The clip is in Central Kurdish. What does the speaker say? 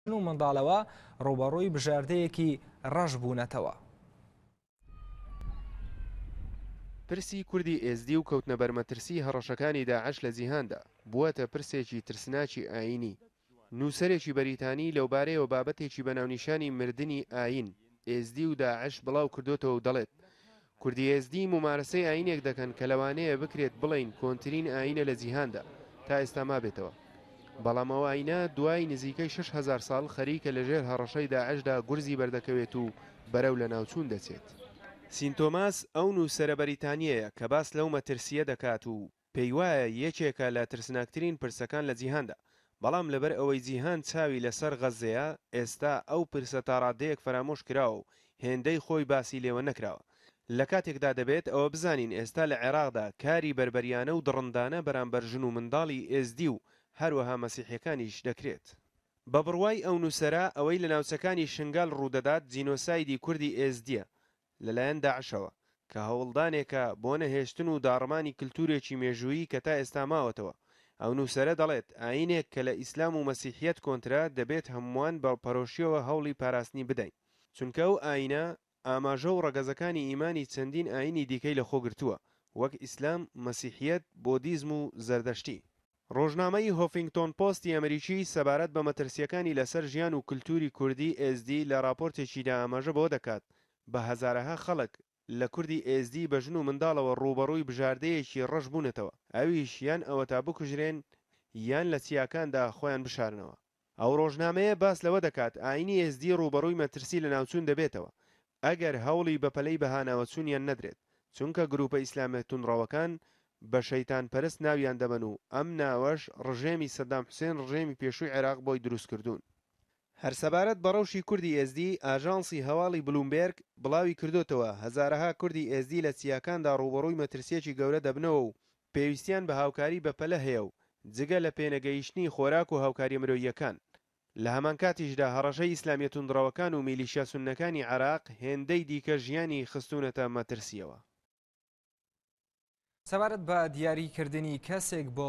ژن و منداڵەوە ڕووبەڕووی بژاردەیەکی ڕەش بوونەتەوە. پرسی کوردی ئێزدی و کەوتنە بەر مەترسیی هەڕەشەکانی داعش لە جیهاندا، بووەتە پرسێکی ترسناکی ئایینی. نووسەرێکی بەریتانی لەوبارەیەوە بابەتێکی بە ناونیشانی مردنی ئایین، ئێزدی و داعش بڵاو کردۆتەوە و دەڵێت، کوردی ئێزدی مومارەسەی ئایینێک دەکەن کە لەوانەیە بکرێت بڵێین کۆنترین ئایینە لە جیهاندا تا ئێستا مابێتەوە. بەڵام ئەو ئایینە دوای نزیکەی شەش هەزار ساڵ خەریکە لە ژێر هەڕەشەی داعشدا گورزی بەردەکەوێت و بەرەو لەناوچوون دەچێت. سینتۆماس ئەو نووسەرە بەریتانییەیە کە باس لەو مەترسییە دەکات و پێیوایە یەکێکە لە ترسناکترین پرسەکان لە جیهاندا، بەڵام لەبەر ئەوەی جیهان چاوی لەسەر غەززەیە، ئێستا ئەو پرسە تا ڕاددەیەک فەرامۆش کراوە و هێندەی خۆی باسی لێوە نەکراوە. لە کاتێکدا دەبێت ئەوە بزانین ئێستا لە عێراقدا کاری بەربەریانە و دڕندانە بەرامبەر ژن و منداڵی ئێزدی و هەروەها مەسیحیەکانیش دەکرێت. بە بڕوای ئەو نووسەرە ئەوەی لە ناوچەکانی شنگال ڕوودەدات جینۆسایدی کوردی ئێزدیە، لەلایەن داعشەوە، کە هەوڵدانێکە بۆ نەهێشتن و داڕمانی کلتورێکی مێژوویی کە تا ئێستا ماوەتەوە. ئەو نوسەرە دەڵێت، ئایینێک کە لە ئیسلام و مەسیحیەت کۆنترە، دەبێت هەمووان بە پەرۆشیەوە هەوڵی پاراستنی بدەین. چونکە ئەو ئایینە، ئاماژە و ڕەگەزەکانی ئیمانی چەندین ئایینی دیکەی لەخۆگرتووە، وەک ئیسلام، مەسیحیەت، بۆدیزم و زەردەشتی. ڕۆژنامەی هۆفینگتۆن پۆستی ئەمریکی سەبارەت بە مەترسییەکانی لەسەر ژیان و کلتووری کوردی ئێزدی لە ڕاپۆرتێکیدا ئاماژە بەوە دەکات، بە هەزارەها خەڵک لە کوردی ئێزدی بە ژن و منداڵەوە ڕووبەڕووی بژاردەیەکی ڕەش بوونەتەوە، ئەویش یان ئەوەتا بکوژرێن یان لە چیاکاندا خۆیان بشارنەوە. ئەو ڕۆژنامەیە باس لەوە دەکات، ئایینی ئێزدی ڕووبەڕووی مەترسی لەناوچوون دەبێتەوە، ئەگەر هەوڵی بەپەلەی بەهاناوەچوونیان نەدرێت، چونکە گرووپە ئیسلامیە توندڕەوەکان بە شەیتانپەرست ناویان دەبەن و ئەم ناوەش ڕژێمی سەدام حوسێن ڕژێمی پێشووی عێراق بۆی دروستکردوون. هەر سەبارەت بە ڕەوشی کوردی ئێزدی، ئاژانسی هەواڵی بلومبێرگ بڵاویکردووەتەوە، هەزارەها کوردی ئێزدی لە چیاکاندا ڕووبەڕووی مەترسییەکی گەورە دەبنەوە و پێویستیان بە هاوکاری بەپەلە هەیە و جگە لە پێنەگەیشتنی خۆراک و هاوکارییە مرۆییەکان، لە هەمانکاتیشدا هەڕەشەی ئیسلامییە توندڕەوەکان و میلیشیا سوننەکانی عێراق هێندەی دیکە ژیانی خستوونەتە مەترسییەوە. سەبارەت بە دیاریکردنی کەسێک بۆ.